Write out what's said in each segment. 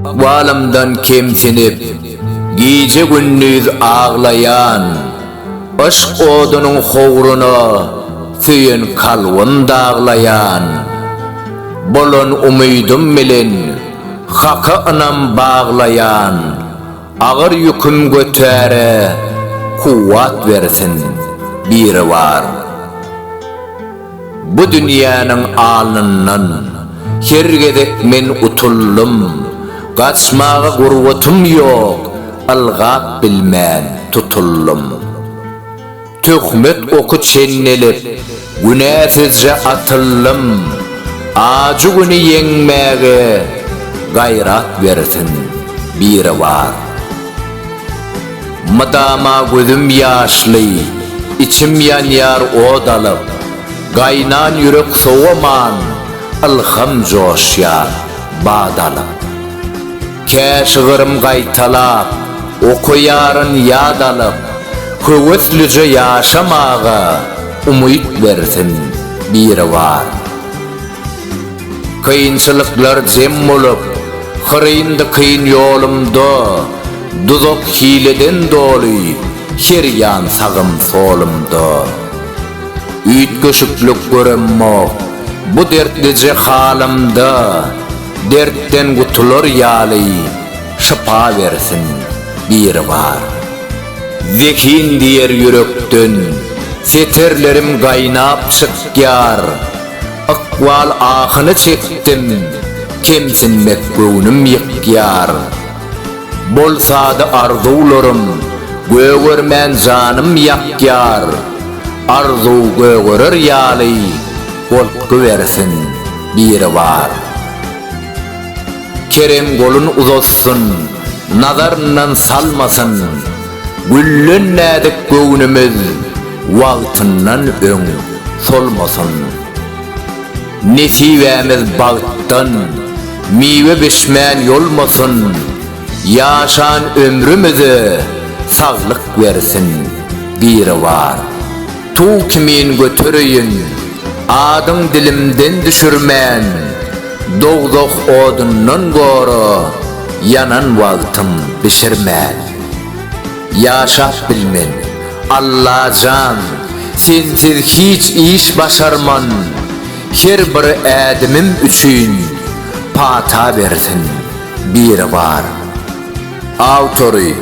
Ykbalymdan kemsinip, gije-gündiz aglaýan, Yşk odunyň howruna söýen kalbym daglaýan. Bolan umydym bilen Haka ynam baglaýan, Agyr ýüküm götäre kuwwat bersin Biribar. Bu dünýäniň alnyndan Her gezek men utuldym. Gaçmaga gurbatym ýok, Ylgap bilmän tutuldym. Töhmet oky çenlelip, Günäsizje atyldym. Ajy güni ýeňmäge Gaýrat bersin Biribar. Mydama gözüm ýaşly, içim ýanýar ot alyp, Gaýnan ýürek sowaman, ylham joşýar bat alyp. Kä şygrym gaýtalap, okaýaryn ýat alyp, Höweslije ýaşamaga umyt bersin Biribar. Kynçylyklar jem bolup, hyryn-dykyn ýolumda, Duzak-hileden doly, her ýan sagym-solumda. Üýtgeşiklik göremmok, bu dertlije halymda, Dertden gutular ýaly, şypa bersin Biribar. Zehin diýer ýürekden, setirlerim gaýnap çykýar. Ykbal ahyny çekdim, kemsinmek göwnüm ýykýar. Bolsady arzuwlarym, gögermän janym ýakýar. Arzuw gögerer ýaly, goltgy bersin Biribar. Kerem golun uzatsyn, nazaryndan salmasyn. Güllen näzik göwnümiz. Wagtyndan öň solmasyn. Nesibämiz bagtdan miwe bişmän ýolmasyn, Ýaşan ömrümize saglyk bersin Biribar. Tug kimin götereýin adyň dilimden düşürmän, Dowzah odundan gora ýanan wagtym bişirmän. Ýaşap bilmen. Allajan, sensiz hiç iş başarman, her bir ädimim üçin pata bersin, Biribar. Awtory,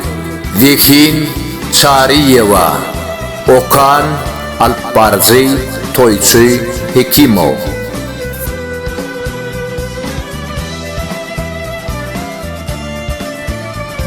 Zehin Çaryýewa, okan, alyp baryjy, toýçy Hekimow.